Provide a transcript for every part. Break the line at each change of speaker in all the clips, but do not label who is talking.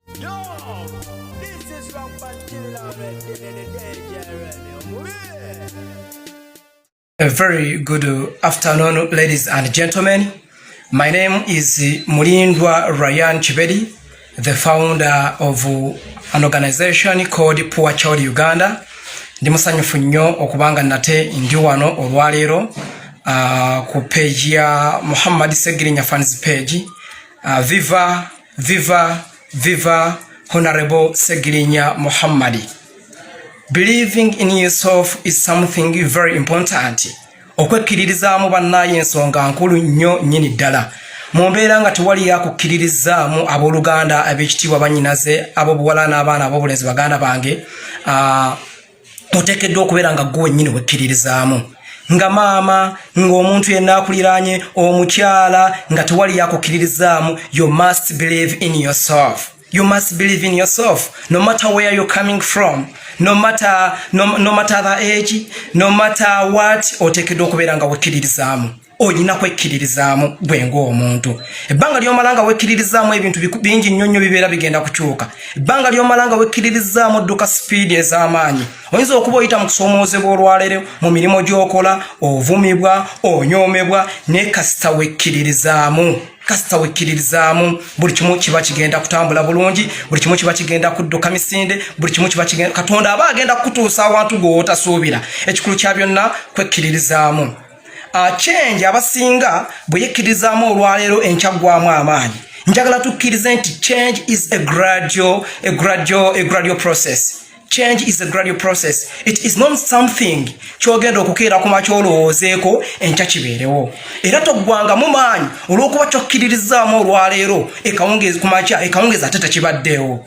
Yo,
this is from A very good uh, afternoon, ladies and gentlemen. My name is uh, Mulindwa Ryan Chibedi, the founder of uh, an organization called Poor Child Uganda. Ndi musanyufu nnyo okuba nga nate ndi wano olwaleero uh, ku page ya Muhammad Segirinya fans page uh, viva Viva, viva, Honorable Segirinya Muhammadi. Believing in yourself is something very important. Okwekkiririzaamu bannaayo ensonga nkulu nnyo nnyini ddala. Mu mbeera nga tewali yakukkiririzaamu abooluganda ab'ekitiibwa bannyinaze ab'obuwala n'abaana ab'obulenzi baganda bange, uh, oteekeddwa okubeera nga gwe wennyini wekkiririzaamu nga maama ng'omuntu yenna akuliraanye omukyala nga tewali yakukkiririzaamu you must believe in yourself you must believe in yourself no matter where you're coming from no matter, no, no matter the age no matter what oteekeddwa okubeera nga wekkiririzaamu olina kwekkiririzaamu gwe ng'omuntu ebbanga ly'omala nga wekkiririzaamu ebintu bingi nnyo nnyo bibeera bigenda kukyuka ebbanga ly'omala nga wekkiririzaamu odduka sipiidi ez'amaanyi oyinza okuba oyita mu kusoomoozebwa olwalero mu mirimu gy'okola ovumibwa onyoomebwa naye kasita wekkiririzaamu kasita wekkiririzaamu buli kimu kiba kigenda kutambula bulungi buli kimu kiba kigenda kudduka misinde buli kimu kiba kigenda katonda aba agenda kukutuusa awantu gweotasuubira ekikulu kya byonna kwekkiririzaamu change abasinga bwe yekkirizaamu olwaleero enkyaggwamu amaanyi njagala tukkirize nti change is a gradual, a gradual, a gradual process change is a gradual process it is not something kyogenda okukeera ku makyo olowoozeeko enkya kibeerewo era toggwanga mu maanyi olw'okuba kyokkiririzaamu olwaleero ekawungeezi ku makya ekawungeezi ate tekibaddeewo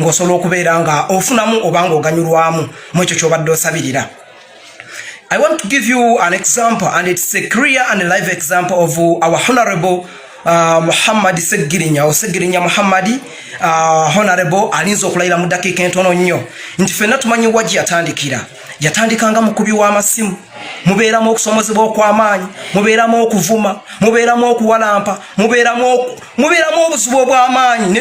ng'osobola okubeera nga ofunamu oba nga oganyulwamu mu ekyo ky'obadde osabirira I want to give you an example and it's a clear and live example of our honorable uh, Muhammad Segirinya or Segirinya Muhammad uh, honorable alinza okulayira mu dakiika entono nnyo nti fenna tumanyi wagi yatandikira yatandikanga mukubi w'amasimu mubeeramu okusomozebwa okw'amaanyi mubeeramu okuvuma mubeeramu okuwalampa mubeeramu obuzibu obw'amaanyi ne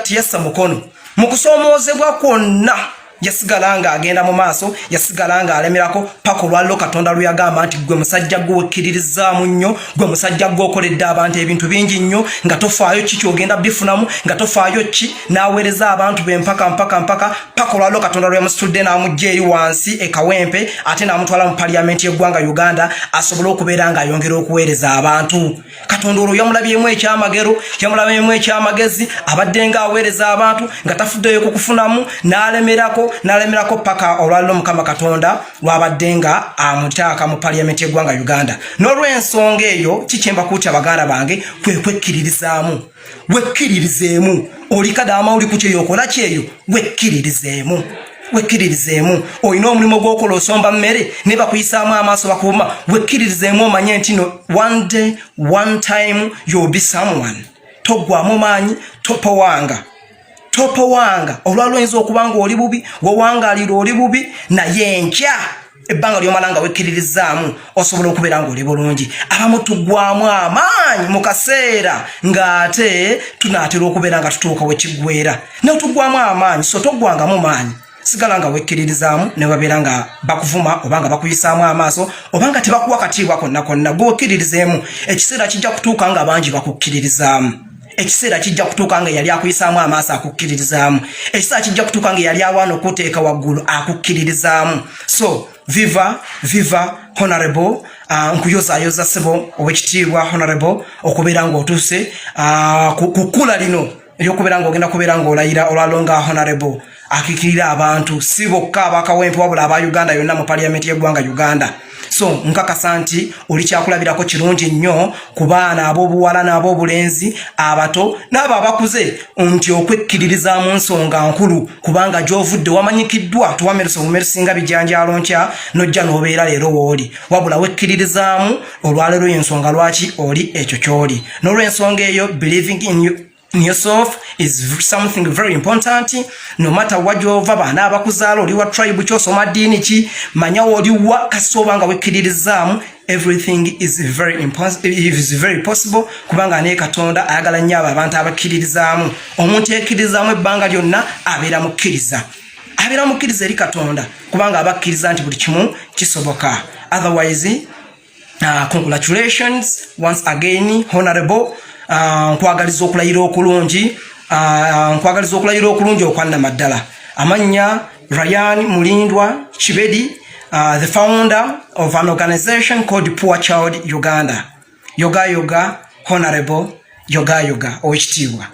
teyassa mukono mu kusoomoozebwa kwonna yasigala nga agenda mu maaso yasigala nga alemerako paka olwaliro katonda lweyagamba nti gwe musajja gwe wekkiririzaamu nnyo gwe musajja gwe okoledde abantu ebintu bingi nnyo nga tofaayo ki kyogenda bifunamu nga tofaayo ki n'aweereza abantu be mpaka mpaka mpaka paka olwaliro katonda lweyamusitudde n'amugja eri wansi e kawempe ate n'amutwala mu paliyamenti y'eggwanga uganda asobole okubeera ng'ayongera okuweereza abantu katonda olwo yamulabyemu ekyamagero yamulabyemu ekyamagezi abadde nga aweereza abantu nga tafuddeyo ku kufunamu n'alemerako n'alemerako paka olwaliro mukama katonda lwabadde nga amutaaka mu paliyamenti y'eggwanga uganda n'olwensonga eyo kikyembakuutya baganda bange kwe kwekkiririzaamu wekkiririzeemu oli kadaama oli ku kyeyo okola kyeyo wekkiririzeemu wekkiririzeemu olina omulimu gw'okola osomba mmere ne bakuyisaamu amaaso bakuuma wekkiririzeemu omanye nti no one day one time you'll be someone toggwamu maanyi topowanga totowanga olwali oyinza okuba nga oli bubi wewangalira oli bubi naye enkya ebbanga lyomala nga wekkiririzaamu osobola okubeera nga oli bulungi abamu tugwamu amaanyi mu kaseera ng'ate tunaatera okubeera nga tutuuka wekiggwera naye tugwamu amaanyi so toggwangamu maanyi sigala nga wekkiririzaamu ne babeera nga bakuvuma oba nga bakuyisaamu amaaso oba nga tebakuwa katiibwa konna konna gwe wekkiririzemu ekiseera kijja kutuuka nga bangi bakukkiririzaamu ekiseera kijja kutuuka nga eyali akuyisaamu amaaso akukkiririzaamu ekiseera kijja kutuuka nga eyali awaana okuteeka waggulu akukkiririzaamu so viva viva honorable uh, nkuyozayoza sebo owekitiibwa honorable okubeera ngaotuuse uh, kukula lino ebyokubera nga ogenda kubera nga olayira olalonga honorable akikirira abantu si bokka abakawempe wabula aba uganda yonna mu paliamenti y'eggwanga uganda so nkakasa nti oli kyakulabirako kirungi nnyo ku baana ab'obuwala n'ab'obulenzi abato n'abo abakuze nti okwekkiririza mu nsonga nkulu kubanga gy'ovudde wamanyikiddwa tuwameresa obumersinga bijanjaalo nkya n'ojja n'obeera leero wooli wabula wekkiririzaamu olwaleero yensonga lwaki oli ekyo kyoli nolwensonga eyo believing in you yourself is something very important no matter what you over bana abakuzala oli wa tribe kyo soma dini ki manya oli wa kasoba nga wekiririzam everything is very impossible is very possible kubanga ne katonda ayagala nyaba abantu abakiririzam omuntu ekirizamu ebanga lyonna abera mukiriza abeera mukkiriza eri katonda kubanga aba akkiriza nti buli kimu kisoboka otherwise uh, congratulations once again honorable uh, nkwagaliza okulayira okulungi uh, nkwagaliza okulayira okulungi okwannama ddala amannya ryan mulindwa kibedi uh, the founder of an organization called poor child uganda yoga yoga honorable yoga yoga owekitiibwa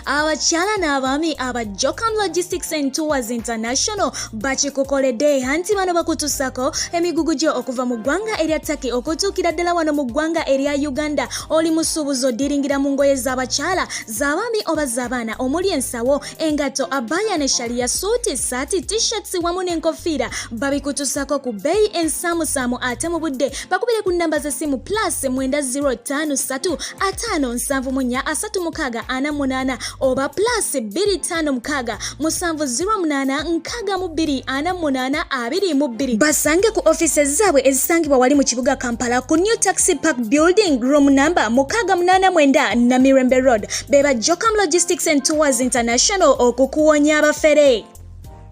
abakyala n'abaami aba jocan logistics and tours international bakikukoledde anti bano bakutusako emigugu gyo okuva mu ggwanga erya taki okutuukira ddala wano mu ggwanga erya uganda oli musuubuzi odiringira mu ngoye z'abakyala z'abaami oba z'abaana omuli ensawo engatto abaya ne shaliya suuti saati tishirts wamu n'enkofiira babikutuusako ku bbeeyi ensaamusaamu ate mu budde bakubire ku nnamba z'essimu plus 953 ataano nsanvu munya asatu mukaaga ana munaana oba plus 25 mukaaga musanvu 08 aga mu bbiri ana mu munaana abiri mu bbiri basange ku ofiisi ezizaabwe ezisangibwa wali mu kibuga kampala ku new taxi park building room namba mukaaga munaana mwenda namirembe road beba jokam logistics and tours international okukuwonya abafere